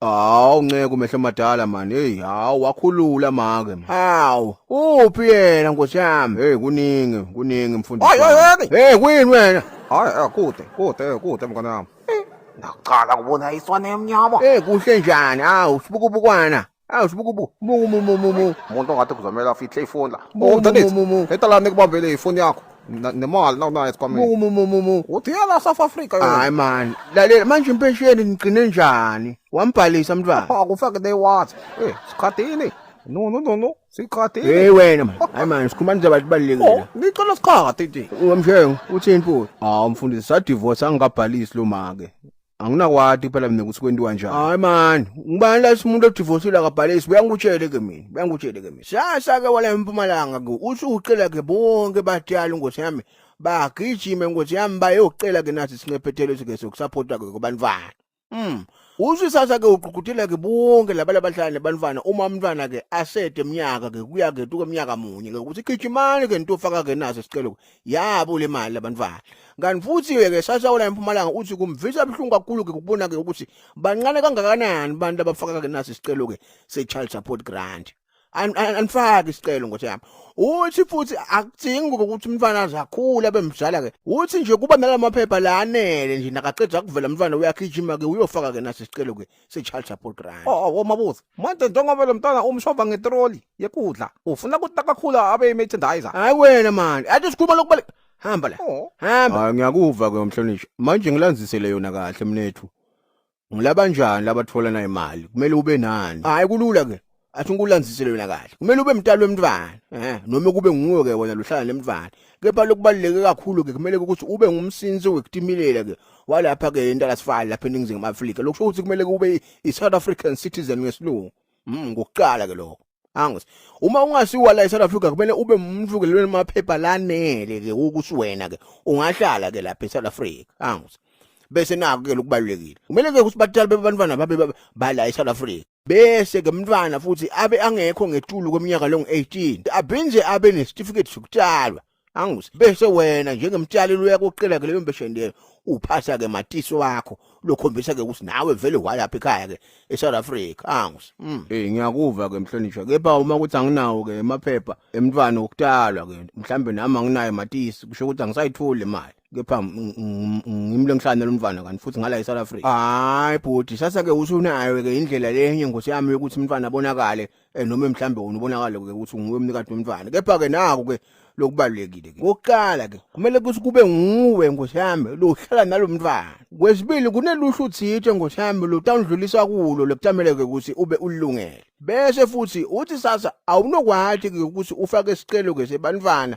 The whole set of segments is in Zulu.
Hawu nceku mehlo madala man. Hey hawu wakhulula make. Hawu uphi yena nkosi yami? Hey kuningi kuningi mfundisi. Hayi hayi hayi. Hey kuyini wena? Hayi eh, kude kude eh, kude mngane wami. Ngaqala kubona iswane emnyama. Hey kuhle njani? Hawu sibukubukwana. Hawu sibukubu. Mu mu mu mu mu. Umuntu ongathi kuzomela afihle ifoni la. Mu, mu, mu, mu. Hetala nikubambele ifoni yakho. Na- nemoya linokunoya esikhwameni Mu mu mu mu mu. uthi yela south africa yona Hayi man, lalela manje impesheni nigcine njani? Wambhalisa mntwana. akufake they what Eh, sikhathini no no no no sikhathini Hey wena man. Hayi man, sikhuluma nje abantu Oh, balekile. ngicela sikhathi nje Wamshengu uthini futhi? Hawu mfundisi sadivorce angikabhalisi lo make. anginakwati kuphela mina ukuthi kwendiwa njani hayi mani ngubani la simuntu odivosile akabhalisi buyangikutshele ke mina buyangikutshele ke mina sasa ke wala empumalanga ke usucela ke bonke batyala ingosi yami bagijime ingosi yami bayocela ke nathi sincephethelo sike sokusapota ke kubanifana mm usisasa ke uqhuqhuthela ke bonke laba labahlali nebanifana uma umntwana ke asede eminyaka ke kuya ke tuke eminyaka munye ke ukuthi gijimani ke nto faka ke naso sicelo yabo le mali labantwana kanti futhi-ke ke sasawula empumalanga uthi kumvisa buhlungu kakhulu-ke kubona-ke ukuthi bancane kangakanani abantu abafaka-ke naso isicelo-ke se-child support grant anifaki isicelo ngothi yami uthi futhi akudingi ukuthi umntwana aze akhule abe mdala ke uthi nje kuba nalamaphepha la anele nje nakaqeda kuvela umntwana uyagijima ke uyofaka ke naso isicelo ke sichild support grant oh, oh, oh mabuza manje njengoba lo mntwana umshova ngetroli yekudla ufuna ukuthi nakakhula abe imerchandiser hayi wena mani athi sikhuluma lokubale hamba la oh. hamba hayi ngiyakuva ke umhlonishwa manje ngilanzisele yona kahle mnethu ngilaba njani labathola nayo imali kumele ube nani hayi kulula ke athi ngikulanzisele wena kahle kumele ube mntalo wemntwana eh noma kube nguwe ke wena luhlala nemntwana kepha lokubaluleke kakhulu ke kumele ukuthi ube ngumsinsi wekutimilela ke walapha ke intalasifala lapha eningizimu Afrika lokusho ukuthi kumele kube i South African citizen ngesilungu mm ngokuqala ke lokho angos uma ungasiwa la eSouth Africa kumele ube umuntu ke lelo maphepha lanele ke ukuthi wena ke ungahlala ke lapha eSouth Africa angos bese naku ke lokubalulekile kumele ke ukuthi batali bebantwana babe bala eSouth Africa bese ke mntwana futhi abe angekho ngetulu kweminyaka longu-18 abhinze abe nesitifiketi sokutshalwa angus bese wena njengemtshali luyakuqela ke leyo mbeshendelo uphasa ke matisi wakho lokhombisa ke ukuthi nawe vele walapha ekhaya ke eSouth Africa angus mm. hey ngiyakuva ke mhlonishwa kepha uma ukuthi anginawo ke emaphepha emntwana okutalwa ke mhlambe nami anginayo matisi kusho ukuthi angisayitholi imali kepha ngimlo ngihlane lomfana kanti futhi ngala eSouth Africa hayi bhuti sasa ke usunayo ke indlela lenye ngosi yami ukuthi umfana abonakale eh, noma mhlambe wona ubonakale ke ukuthi nguwe umnikati womfana kepha ke naku ke lokubalulekile ke ngokuqala ke kumele ukuthi kube nguwe ngosi yami lohlala nalomfana kwesibili kuneluhlu thithe ngosi yami lotawudlulisa kulo lokutamele ke ukuthi ube ulungele bese futhi uthi sasa awunokwathi ke ukuthi ufake isicelo ke sebantwana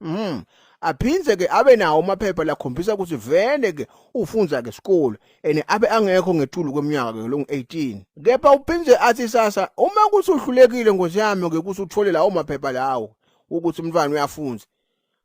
Mm. Aphindze ke abe nawo amaphepha lakhombisa ukuthi vele ke ufunza ke isikole ene abe angekho ngetulu kweminyaka ke longu 18. Kepha uphindze athi sasa uma kuthi uhlulekile ngozi yami ke kuthi uthole lawo maphepha lawo ukuthi umntwana uyafunza.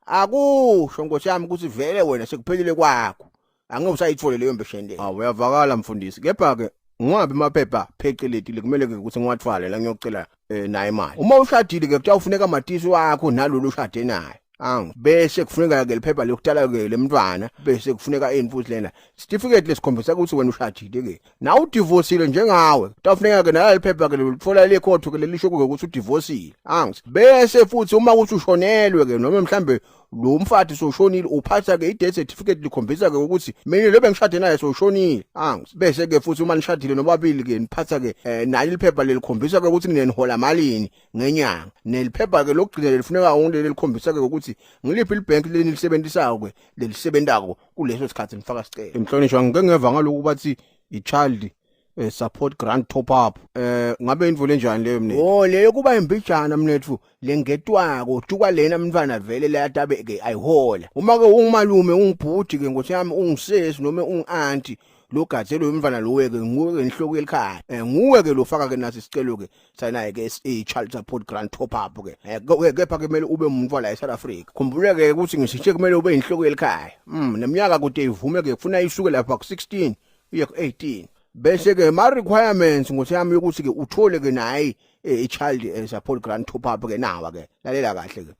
Akusho ngosi yami ukuthi vele wena sekuphelile kwakho. angeke usayithole leyo mpesheni leyo awu uyavakala mfundisi kepha ke ngiwabi amaphepha pheceleti kumele ke ukuthi ngiwathwale la ngiyocela eh, naye imali uma ushadile ke kuthiwa ufuneka amatisi wakho nalolu ushade naye angu bese kufuneka ke liphepha lokutala ke lemntwana bese kufuneka infuthi lena certificate lesikhombisa ukuthi wena ushadile ke na udivorcile njengawe tafuneka ke nala liphepha ke lolithola le court ke lelisho ukuthi udivorcile angu bese futhi uma ukuthi ushonelwe ke noma mhlambe lo mfathi soshonile uphatha ke i-death certificate likhombisa ke ukuthi mina lo bengishade naye soshonile angs bese ke futhi uma nishadile nobabili ke niphatha ke eh, nali liphepha lelikhombisa ke ukuthi mina nihola malini ngenyanga neliphepha ke lokugcina lelifuneka wonke lelikhombisa ke ukuthi ngiliphi libank leni lisebenzisayo ke lelisebenzako kuleso sikhathi nifaka sicelo inhlonishwa ngike ngeva ngaloku bathi i-child eh, support grant top up eh ngabe imvula enjani leyo mnethu oh leyo kuba imbijana mnethu lengetwako tuka lena mntwana vele layatabe ke ayihola uma ke ungumalume ungibhuti ke ngothi yami ungisesi noma ungianti lo gadze lo mfana lo weke nguwe ke inhloko yelikhaya eh nguwe ke lo faka ke nathi sicelo ke sanaye ke i child support grant top up ke eh kepha ke kumele ube umuntu wala eSouth Africa khumbule ke ukuthi ngisitshe kumele ube inhloko yelikhaya mm neminyaka kude ivume ke kufuna isuke lapha ku 16 uye ku-18 bese-ke ma-requirements ngothi yami yokuthi-ke uthole-ke naye eh, i-child eh, support grant top up-ke nawa-ke lalela kahle-ke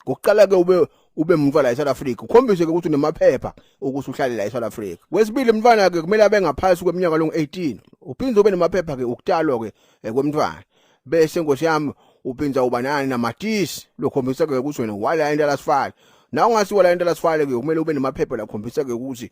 ngokuqala-ke ube ube umntwana la eSouth Africa ukhombise ke ukuthi unemaphepha ukuthi uhlale la eSouth Africa kwesibili umntwana ke kumele abe ngaphansi kweminyaka longu 18 uphinde ube nemaphepha ke ukutalwa ke eh, kwemntwana bese nkosi yami uphinda uba nani namatisi lokhombisa ke ukuthi wena wala into lasifala na ungasiwa la into lasifala ke kumele ube nemaphepha lakhombisa ke ukuthi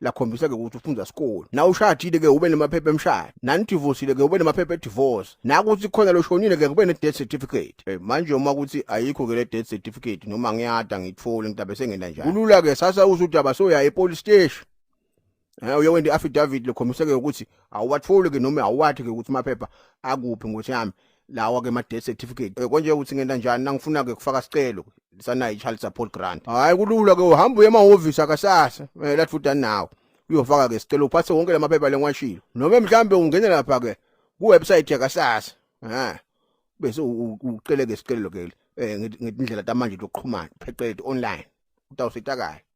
lakhombisa ke ukuthi ufunda sikole na ushadile ke ube nemaphepha emshado nani divorcile ke ube nemaphepha edivorce nakuthi khona loshonile ke kube ne death certificate hey, eh, manje uma kuthi ayikho ke le death certificate noma ngiyada ngithole ngitabe sengenda njani kulula ke sasa uze udaba soya e police station Eh uyokwenza i-affidavit lokhombiseke ukuthi awuwatholi ke noma awuwathi ke ukuthi maphepha akuphi ngothi yami lawa ke ma death certificate eh, konje ukuthi ngenta njani nangifuna ke kufaka sicelo sanayi child support grant hayi kulula ke uhamba uye emahhovisi akasasa eh, lathi futhi nawo uyofaka ke sicelo uphathe wonke lamaphepha lengiwashilo noma mhlambe ungene lapha ke ku website yakasasa ha bese ucele ke sicelo ke eh, ngindlela tamanje lokuqhumana phecelezi online utawusitakala